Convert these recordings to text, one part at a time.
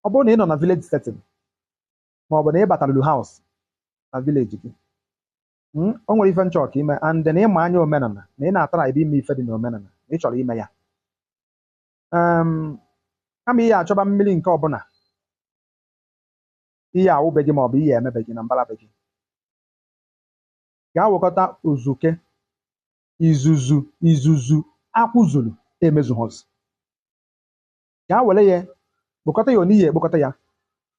ọ bụrụ na ị nọ na village setting ma ọ bụ na ị bata rụlụ house na village gị mm, o nwere ife m chọọ ka i me and na ịma anya omenala na ị na-atara ebe ime ife dị na omenala na ị chọrọ ime ya um, kama ị ya-achọba mmiri nke ọbụla ị ya-awụ be gị maọbụ ị ya-eme be gị na mbara be gị gaa wekọta uzuke izuzu izuzu akwụ zuru emezuhazị ka ha were ya kpokọta ya n'ihi ekpokọta ya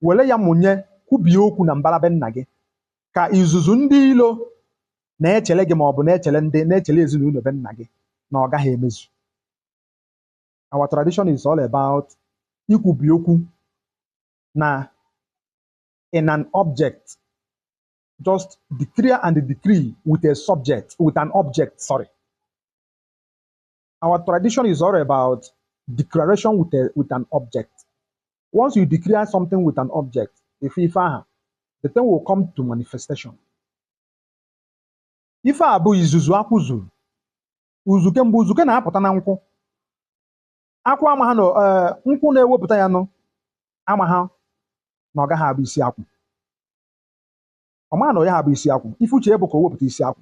were ya mụnye kwubie okwu na mbara be nna gị ka izuzu ndị ilo na-echere gị ma ọ bụ na-echere ndị na-echere ezinụlọ be nna gị na ọ gaha emezu our tradition is all about ikwubi okwu na in an object just declare and decree with a subject with an object sorry our tradition is all about declaration with, a, with an object. Once you declare something with an object, ife, ife aha, the thing will come to manifestation. Ife a bụ izuzu akwụ zuru. Uzuke mgbe uzuke na-apụta na nkwụ. Akwụ amaha na eh, nkwụ na-ewepụta ya nụ amaha na ọ gaha abụ isi akwụ. Ọ maha na ọ yaha abụ isi akwụ. Ife uche ya bụ ka o wepụta isi akwụ.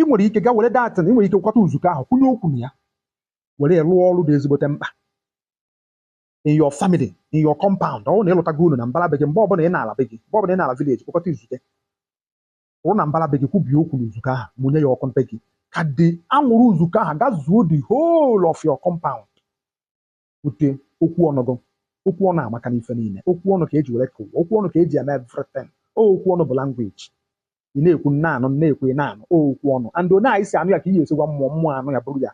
ị nwere ike ga were that na ị nwere ike kwata uzuke ahụ kwunye okwu na ya were ya rụọ ọrụ dị ezigbote mkpa in your family in your compound ọ bụrụ na ị lụtago ụnọ na mbara be gị mgbe ọbụla ị na-ala be gị mgbe ọbụla ị na-ala village kpokọta uzuke kwụrụ na mbara be gị kwubie okwu n'uzuke ahụ mụnye ya ọkụ na be gị ka the anwụrụ uzuke ahụ gazuo the whole of your compound bute okwu ọnụ gị okwu ọnụ amaka n'ife niile okwu ọnụ ka eji were kee ụwa okwu ọnụ ka eji eme everything o okwu ọnụ bụ language ị na-ekwu m na-anụ m na-ekwu ị na-anụ o okwu ọnụ and onye anyị si anụ ya ka ị ga-esi gwa mmụọ mmụọ anụ ya bụrụ ya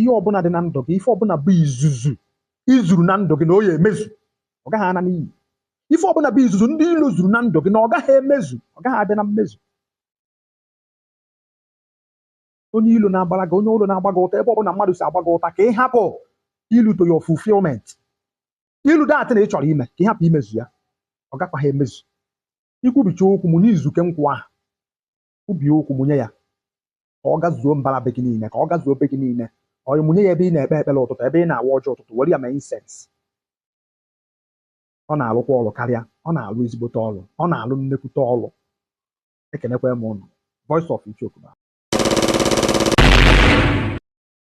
ihe ọbụla dị na ndụ gị ife ọbụla bụ izuzu i zuru na ndụ gị na ọ ya-emezu ọ gaghị ana n'iyi ife ọbụla bụ izuzu ndị ilo zuru na ndụ gị na ọ gaghị emezu ọ gaghị abịa na mmezu onye ilo na-agbara gị onye ilo na-agba gị ụta ebe ọ bụla mmadụ si agba gị ụta ka ị hapụ ilu to your fulfillment ilu that thing ị chọrọ ime ka ị hapụ imezu ya ọ gakwaghị emezu i kwubicha okwu mụnye uzuke nkwụ ahụ kwubie okwu mụnye ya ka ọ gazuo mbara be gị niile ka ọ gazuo be gị niile ọ mụnye ya ebe ị na-ekpe ekpere ụtụtụ ebe ị na-awa ọjị ụtụtụ were ya mee incense ọ na-alụkwa ọrụ karịa ọ na-alụ ezigbote ọrụ ọ na-alụ nnekwute ọrụ ekenekwa m ụnụ voice of ichoku